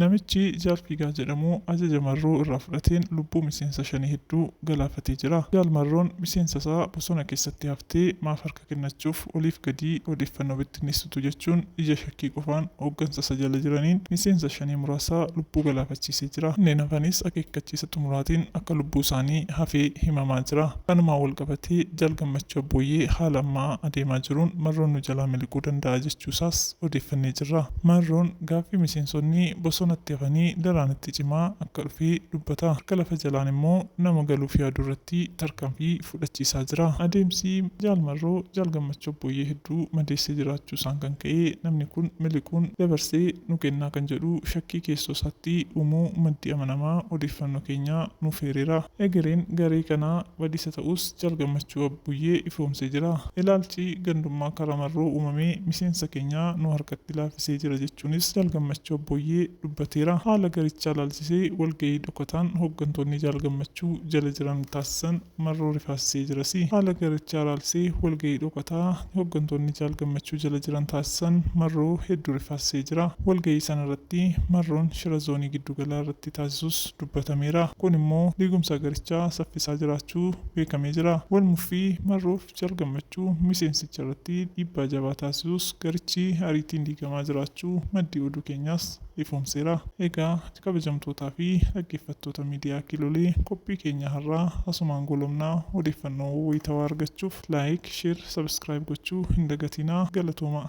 Namichi Jaal Fiigaa jedhamu ajaja Marroo irraa fudhateen lubbuu miseensa Shanee hedduu galaafatee jira. Jaal Marroon miseensa isaa bosona keessatti haftee maaf harka kennachuuf oliif gadii odeeffannoo bittinneessitu jechuun ija shakkii qofaan hooggansa isa jala jiraniin miseensa Shanee muraasa lubbuu galaafachiisee jira. Kanneen hafanis akeekkachiisa xumuraatiin akka lubbuu isaanii hafee himamaa jira. Kanumaan walqabatee Jaal Gammachuu Abbooyyee haala amma adeemaa jiruun Marroon nu jalaa miliquu danda'a jechuu isaas odeeffannee jirra. Marroon gaaffii miseensonni bosonatti hafanii daraan itti cimaa akka dhufe dubbata. Harka lafa jalaan immoo nama galuuf yaadu irratti tarkaanfii fudhachiisaa jira. Adeemsi Jaal Marroo Jaal Gammachuu Abbooyyee hedduu madeessee jiraachuu isaan kan ka'e namni kun miliquun dabarsee nu kennaa kan jedhu shakkii keessoo isaatti uumuu maddi amanamaa odeeffannoo keenyaa nuuf eereera. Egereen garee kanaa badiisa ta'us Jaal Gammachuu Abbuyyee ifoomsee jira. Ilaalchi gandummaa karaa marroo uumamee miseensa keenya nu harkatti laaffisee jira jechuunis Jaal Gammachuu Abbooyyee dubbateera. Haala garichaa ilaalchisee walgahii dhokataan hooggantoonni Jaal Gammachuu jala jiran taasisan marroo rifaasisee jirasi. Haala garichaa ilaalchisee walgahii dhokataa hooggantoonni Jaal Gammachuu jala jiran taasisan marroo hedduu rifaasisee jira. Walgahii sanarratti marroon shira zoonii giddugalaa irratti taasisus. dubbatameera. Kun immoo diigumsa garichaa saffisaa jiraachuu beekamee jira. Wal muffii Marroof Jaal Gammachuu miseensicha irratti dhiibbaa jabaa taasisus garichi ariitiin diigamaa jiraachuu maddi oduu keenyaas ifoomseera. Egaa kabajamtootaa fi dhaggeeffattoota miidiyaa Kiilolee qophii keenya har'aa asumaan goolabna. Odeeffannoo wayitawaa argachuuf like, share, subscribe gochuu hin dagatinaa. Galatoomaa!